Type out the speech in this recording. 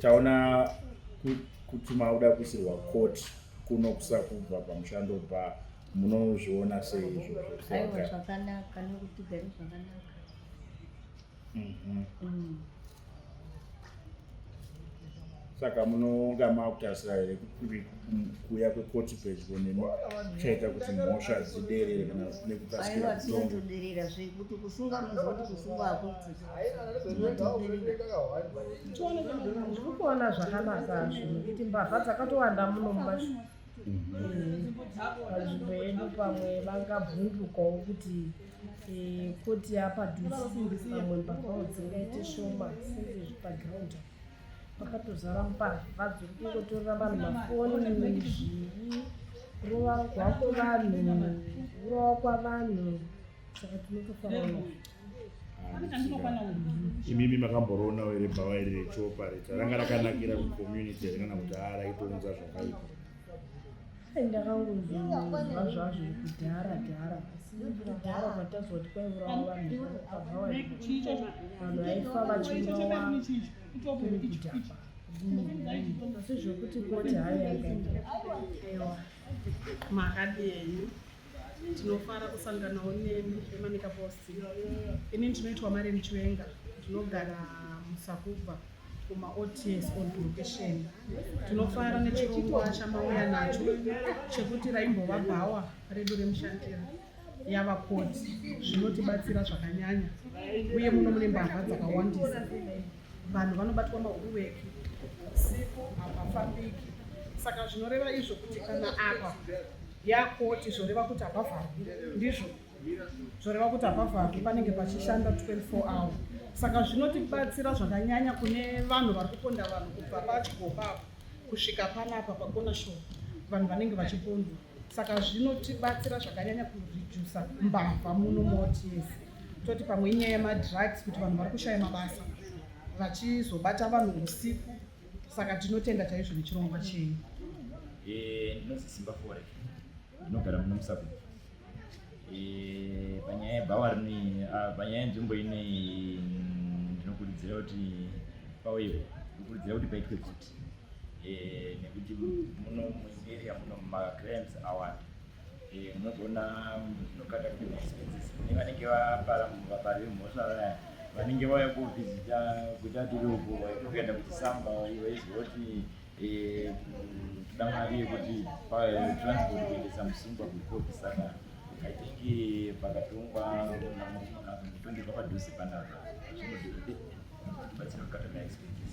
taona kuti mauda kuisirwa court kuno kusakubva pamushando bva munozviona sei izvozvoaiwa zvakanaka nekuti gari zvakanaka mhm. mm. saka munonga makutasira here kuuya kwekoti pedyo nemi chaita kuti mhosva dziderere kana nekukasira kutongoderera zvekuti kusunga munzoti kusunga hakuti ndikuona zvakanaka zvo nekuti mbavha dzakatowanda muno mumashu pazvimbo yedu pamwe vangabvundukawo kuti Eh, koti apa dhusi pamwe mbavao dzingaite shoma sezvezvi paground pakatozara mbavha dziri kungotorera vanhu mafoni zvii kurova kwako vanhu kurova kwavanhu saka tinotofanana imimi makamboroonawo here bhava iri rechopareta ranga rakanakira kucommunity here kana kuti araitounza zvakaipa ndakangozvinzwa zvazvo kudhara dhara asi kudhara kwatazwa kuti kwaiurawa vanhu vakavawa vanhu vaifa vachiurawa kuri kudhakwa asi zvekuti koti hayi yakaita makadii tinofara kusanganawo nemi emanika post ini ndinoitwa mari muchiwenga ndinogara musakubva kumaots on location tinofara nechirongwa chamauya nacho chekuti raimbova bhawa redu remushandira yava koti zvinotibatsira zvakanyanya uye muno mune mbavha dzakawandisa vanhu vanobatwa mahuruweki siku hapafambiki saka zvinoreva izvo kuti kana apa yakoti zvoreva kuti hapavharwi ndizvo zvoreva kuti hapavharwi panenge pachishanda 24 hour saka zvinotibatsira zvakanyanya kune vanhu vari kuponda vanhu kubva pachigobaba kusvika panapa pakona sho vanhu vanenge vachipondwa saka zvinotibatsira zvakanyanya kuredusa mbavha muno moti yese toti pamwe inyaya yemadrugs kuti vanhu vari kushaya mabasa vachizobata vanhu usiku saka tinotenda chaizvo nechirongwa chenyu eh, ndinozi simba fore ndinogara muno musaku eh, panyaya yebhawa rinei ah, panyaya yenzvimbo inei mm, ndinokurudzira kuti pauyewo ndinokurudzira kuti paitwe kuti eh, nekuti muno mueria muno macrams awanda Eh, unogona unogada kuita expenses nevanenge vapara vapari vemhosva vaya vanenge vauya kovhizita kuita tiri uko vaitokuenda kuti samba vaizoti eh, tida mari yekuti transport kuendesa musungwa kukopi saka i think eh, pakatongwa tondirwa padhuze panapa zvinodibatsira kukata maexpenses